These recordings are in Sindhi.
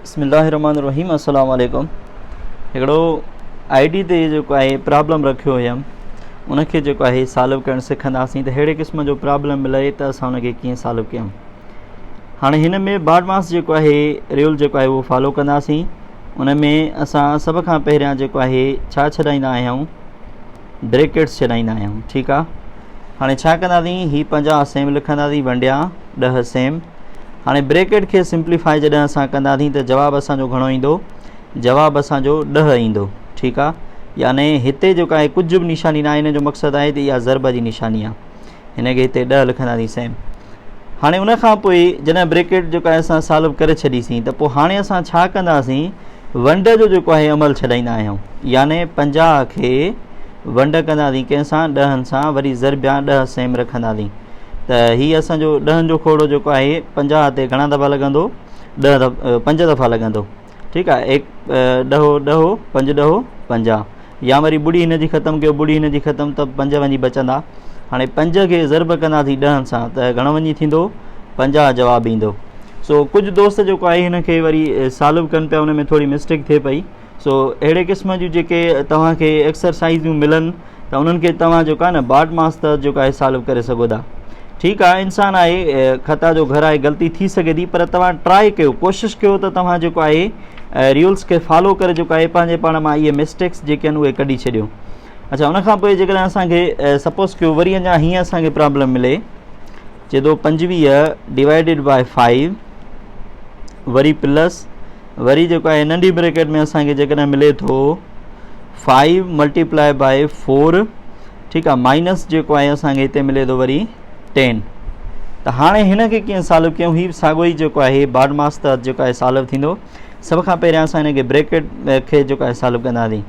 بسم الله الرحمن الرحيم السلام عليڪم هڪڙو آئي ڊي تي جيڪو آهي پرابلم رکيو هيم ان کي جيڪو آهي سالو ڪرڻ سکنداسين ته ههڙي قسم جو پرابلم ملي ته اسان ان کي ڪيئن سالو ڪيون هاڻي هن ۾ بارڊ ماس جيڪو آهي ريول جيڪو آهي اهو فالو ڪنداسين ان ۾ اسان سڀ کان پهريان جيڪو آهي ڇا ڇڏائيندا آهيون بريڪيٽس ڇڏائيندا آهيون ٺيڪ آ هاڻي ڇا ڪنداسين هي پنجاهه سيم لکنداسين ونڊيا ڏه سيم هاڻي بريڪيٽ کي سمپليفائي جڏهن اسان ڪنداسين ته جواب اسانجو گهڻو ايندو جواب اسانجو ڏه ايندو ٺيڪ آ يعني هتي جيڪا هي ڪجهه به نشاني نه آهي هن جو مقصد آهي ته اها ضرب جي نشاني آ هن کي هتي ڏهه لکندا سين سائين هاڻي ان کان پوء جڏهن بريڪيٽ جو ڪا اسان سالو ڪري ڇڏي سين ته پوء هاڻي اسان ڇا ڪندا سين ونڊ جو جيڪو آهي عمل ڇڏائيندا آهيون يعني پنجاهه کي ونڊ ڪندا سين ڪنهن سان ڏهن سان وري ضربيان ڏهه سيم رکندا سين ته هي اسان جو ڏهن جو کوڙو جيڪو آهي پنجاهه تي گهڻا دفعا لڳندو ڏهه دف پنج دفعا لڳندو ٺيڪ آهي ايڪ ڏهو ڏهو پنج ڏهو پنجاهه يا وري ٻڙي هن جي ختم ڪيو ٻڙي هن جي ختم ته پنج وڃي بچندا هاڻي پنج کي ضرب ڪنداسين ڏهن سان ته گهڻو وڃي ٿيندو پنجاهه جواب ايندو سو ڪجهه دوست جيڪو آهي هن کي وري سالو ڪن پيا ان ۾ ٿوري مسٽيڪ ٿئي پئي سو اهڙي قسم جون جيڪي توهان کي ايڪسرسائزون ملن ته انهن کي توهان جيڪو آهي نه باڊ ماس تحت جيڪو آهي سالو ڪري سگهو ٿا ٺيڪ آهي انسان آهي خطا جو گهر آهي غلطي ٿي سگهي ٿي پر توهان ٽرائي ڪيو ڪوشش ڪيو ته توهان جيڪو آهي ريولس کي فالو ڪري جيڪو آهي پنهنجي پاڻ مان اهي مسٽيڪس جيڪي آهن اهي ڪڍي ڇڏيو اچھا ان کان پوء جيڪڏهن اسانکي سپوز ڪيو وري اڃا هيئن اسانکي پرابلم ملي چي ٿو پنجويهه ڊيوائڊيڊ باء فائيو وري پلس وري جيڪو آهي ننڍي بريڪيٽ ۾ اسان کي جيڪڏهن ملي ٿو فائيو ملٽيپلائي بائي فور ٺيڪ آهي مائنس جيڪو آهي اسانکي هتي ملي ٿو وري ٽين ته هاڻي هن کي ڪيئن سالو ڪيون هي ساڳو ئي جيڪو آهي بارڊ ماس تحت جيڪو آهي سالو ٿيندو سڀ کان پهريان اسان هن کي بريڪيٽ کي جيڪو آهي سالو ڪنداسين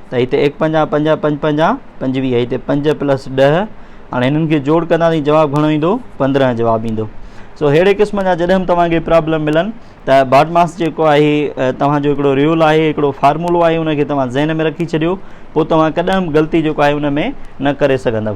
ته هتي ايڪ پنجاهه پنجاهه پنج پنجاهه پنجويهه هتي پنج پلس ڏهه هاڻي هنن کي جوڙ ڪنداسين جواب گهڻو ايندو پندرهن جواب ايندو سو ههڙي قسم جا جڏهن به توهان کي پرابلم ملن ته باڊ ماس جيڪو آهي توهان جو هڪڙو ريول آهي هڪڙو فارمولو آهي ان کي توهان ذهن ۾ رکي ڇڏيو پوء توهان ڪڏهن به غلطي جيڪو آهي ان ۾ نه ڪري سگهندو